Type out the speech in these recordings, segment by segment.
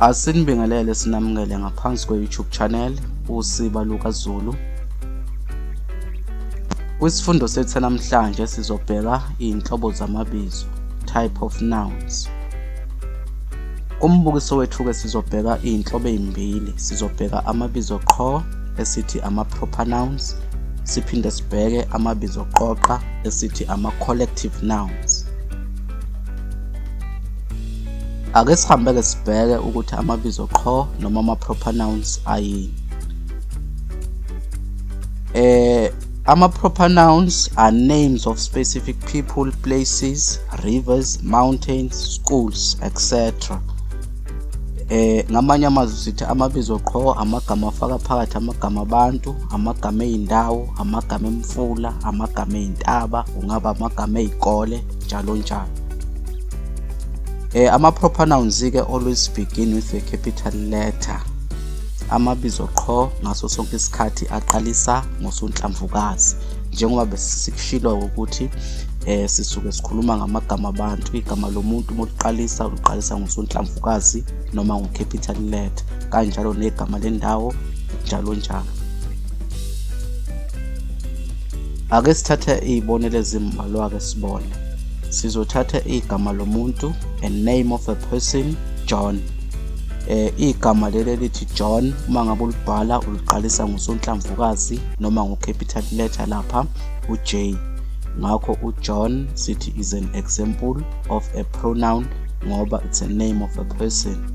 Asinibingelele sinamukele ngaphansi kwe-YouTube channel uSiba Luka Zulu. Kwisifundo sethu namhlanje sizobheka izinhlobo zamabizo, type of nouns. Umbukiso wethu-ke sizobheka izinhlobo ezimbili, sizobheka amabizo qho esithi ama-proper nouns, siphinde sibheke amabizo qoqa esithi ama-collective nouns. Ake sihambe-ke sibheke ukuthi amabizo qho noma ama-proper nouns ayini. Eh ama-proper nouns are names of specific people, places, rivers, mountains, schools, etc. Eh ngamanye amazwi sithi amabizo qho amagama afaka phakathi amagama abantu, amagama ezindawo, amagama emfula, amagama ezintaba, ungaba amagama ezikole njalo njalo eh ama proper nouns ke always begin with a capital letter amabizo qho ngaso sonke isikhathi aqalisa ngosonhlamvukazi njengoba besikushilo ukuthi eh sisuke sikhuluma ngamagama abantu igama lomuntu moliqalisa uliqalisa ngosonhlamvukazi noma ngocapital letter kanjalo negama lendawo njalo njalo Ake sithathe izibonelo ezimbalwa ke sibone. Sizothatha igama lomuntu, a name of a person, John. Eh igama leli lithi John uma ngabe ulibhala uliqalisa ngosonhlamvukazi noma ngo capital letter lapha u J. Ngakho u John sithi is an example of a pronoun ngoba it's a name of a person.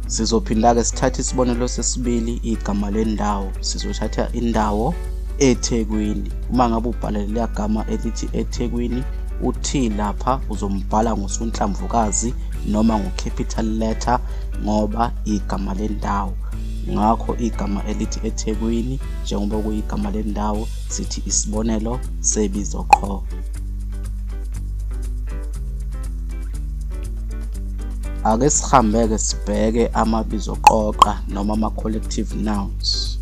Sizophinda-ke sithathe isibonelo sesibili igama lendawo. Sizothatha indawo eThekwini. Uma ngabe ubhala leliya gama elithi eThekwini, u-T lapha uzombhala ngosonhlamvukazi noma ngo-capital letter ngoba igama lendawo. Ngakho igama elithi eThekwini njengoba kuyigama lendawo sithi isibonelo sebizo qho. Ake sihambeke sibheke amabizo qoqa noma ama-collective nouns.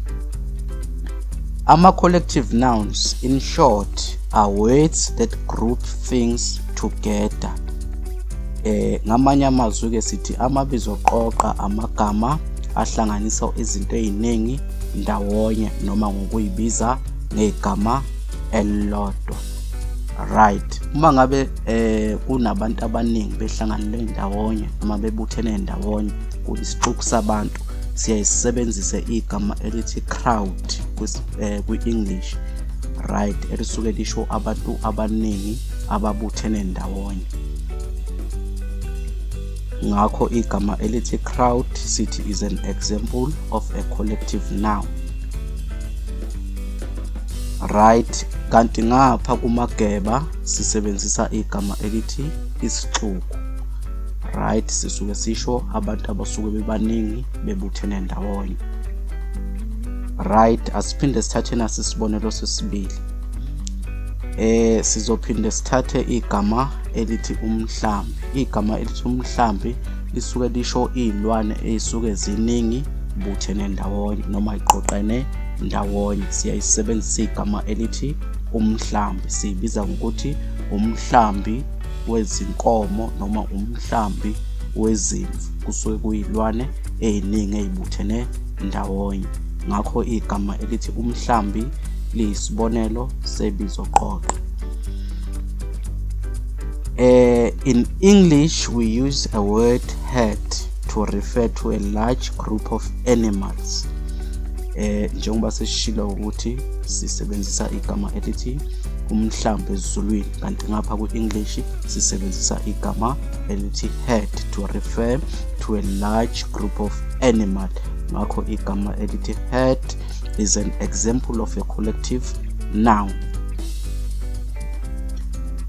Ama-collective nouns in short are words that group things together. Eh ngamanye amazwi ke sithi amabizo qoqa amagama ahlanganisa izinto eziningi ndawonye noma ngokuyibiza ngegama elilodwa. right uma ngabe eh kunabantu abaningi behlanganele ndawonye noma bebuthene ndawonye kuyisixuku sabantu siyayisebenzisa igama elithi crowd eh, kwi-english right elisuke lisho abantu abaningi ababuthene ndawonye ngakho igama elithi crowd sithi is an example of a collective noun right kanti ngapha kumageba sisebenzisa igama elithi isixuku right sisuke sisho abantu abasuke bebaningi bebuthene ndawonye right asiphinde sithathe nasi isibonelo sesibili eh sizophinde sithathe igama elithi umhlambi igama elithi umhlambi lisuke lisho izilwane ezisuke ziningi buthene ndawonye noma iqoqene ndawonye siyayisebenzisa igama elithi umhlambi siyibiza ngokuthi umhlambi wezinkomo noma umhlambi wezimvu kusuke kuyilwane eziningi ezibuthene ndawonye ngakho igama elithi umhlambi liyisibonelo sebizo qoqo Uh, in English, we use a word herd to refer to a large group of animals eh njengoba sesishilo ukuthi sisebenzisa igama elithi umhlambi ezulwini kanti ngapha kwi-english sisebenzisa igama elithi head to refer to a large group of animal ngakho igama elithi head is an example of a collective noun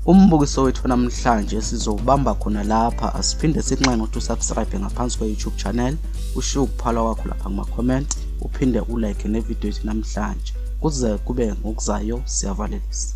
umbukiso wethu namhlanje sizowubamba khona lapha asiphinde sinxenxe ukuthi usubscribe ngaphansi kwe-youtube channel ushiye ukuphala kwakho lapha kuma-comment uphinde ulike nevidiyo yethu namhlanje kuze kube ngokuzayo siyavalelisa